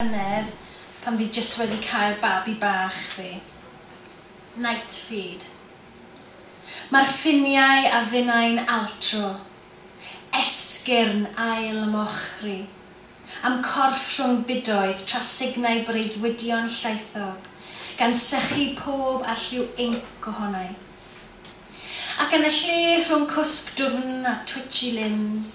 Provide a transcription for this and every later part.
llynedd pan fi jyst wedi cael babi bach fi. Night feed. Mae'r ffiniau a finnau'n altro. Esgyrn ail mochri. A'm corff rhwng budoedd tra signai breuddwydion llaethog, gan sychu pob alliw inc ohonai. Ac yn y lle rhwng cwsg dwfn a twitchy limbs,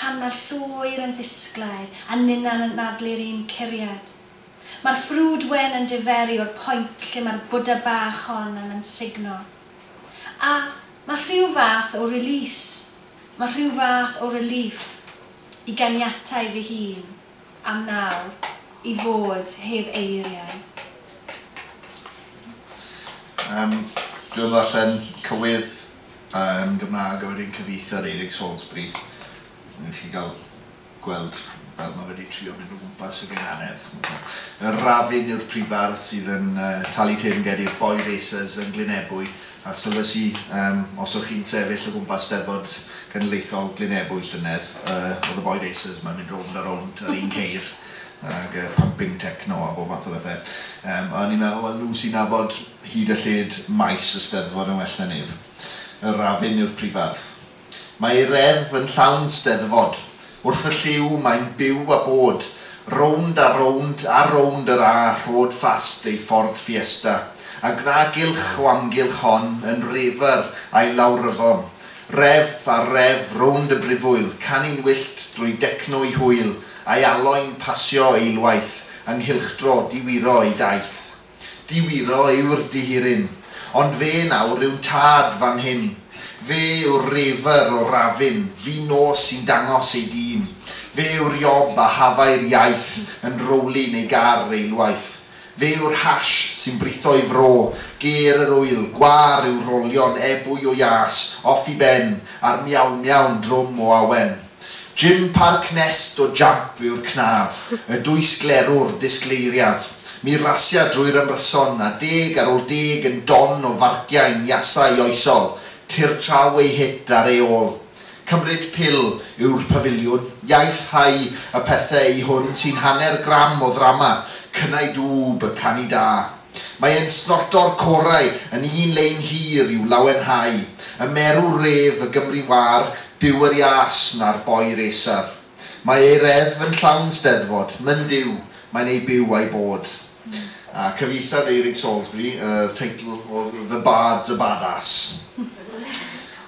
Pan mae'r llwyr yn ddisglair a ninna'n anadlu'r un curiad. Mae'r ffrwd wen yn diferu o'r point lle mae'r Bwdha bach hon yn ansugno. A mae rhyw fath o release, mae rhyw fath o relief i ganiatáu fy hun am nawr i fod heb eiriau. Yym, dwi yn ddarllen cywydd. yn Gymraeg a wedyn cyfieithu ar Eric Salisbury. Newch chi gael gweld fel mae wedi trio mynd o gwmpas y gynghanedd. Yr Rafin yw'r prifardd sydd yn uh, talu teyrngeddi'r Boy Racers yn Glynebwy a sylwysi um, os o'ch chi'n sefyll o gwmpas steddfod genedlaethol Glynebwy llynedd, uh, oedd y Boy Racers mae'n mynd rownd a rownd ar un ceir ag uh, pumping techno a bob math o bethau. Um, a o'n i'n meddwl, wel nhw sy'n nabod Hyd a lled maes y Steddfod yn well na neb. Yr Afin yw'r prifardd. Mae ei reddf yn llawn Steddfod. Wrth y llyw mae'n byw a bod. Rownd a rownd a rownd yr A rhod ffast ei Ford Fiesta, a gwna gylch o amgylch hon yn refer a'i lawryfon. Reddf ar reddf rownd y brifwyl, canu'n wyllt drwy decno ei hwyl, a'i aloi'n pasio eilwaith yng nghylchdro diwiro ei daith. Diwiro yw'r dihiryn. Ond fe nawr yw'n tad fan hyn. Fe yw'r reifr o Rafin, fi nos sy'n dangos ei dîn. Fe yw'r iob a hafai'r iaith yn rowlyn ei gar eilwaith. Fe yw'r hash sy'n britho'i fro ger yr ŵyl gwâr i'w rolio'n ebwy o iâs off i ben a'r miaw-miaw'n drwm o awen. Jim Park Nest o Jamp yw'r cnaf, y dwysglerwr disgleiriaf. Mi rasia drwy'r ymryson, a deg ar ôl deg yn don o farciau'n iasau oesol, tirtraw ei hit ar ei ôl. Cymryd pil yw'r pafiliwn, iaith hau y pethe i hwn sy'n hanner gram o ddrama, cynnau dŵb y canu da. Mae e'n snorto'r corau yn un lein hir i'w lawenhau, y merw ref y Gymru wâr, Duw yr iâs, na'r boi racer. Mae ei reddf yn llawn 'Steddfod, myn Duw, mae'n ei byw a'i bod. A cyfieithodd Eirig Salisbury yr teitl o The Bard's a Badass.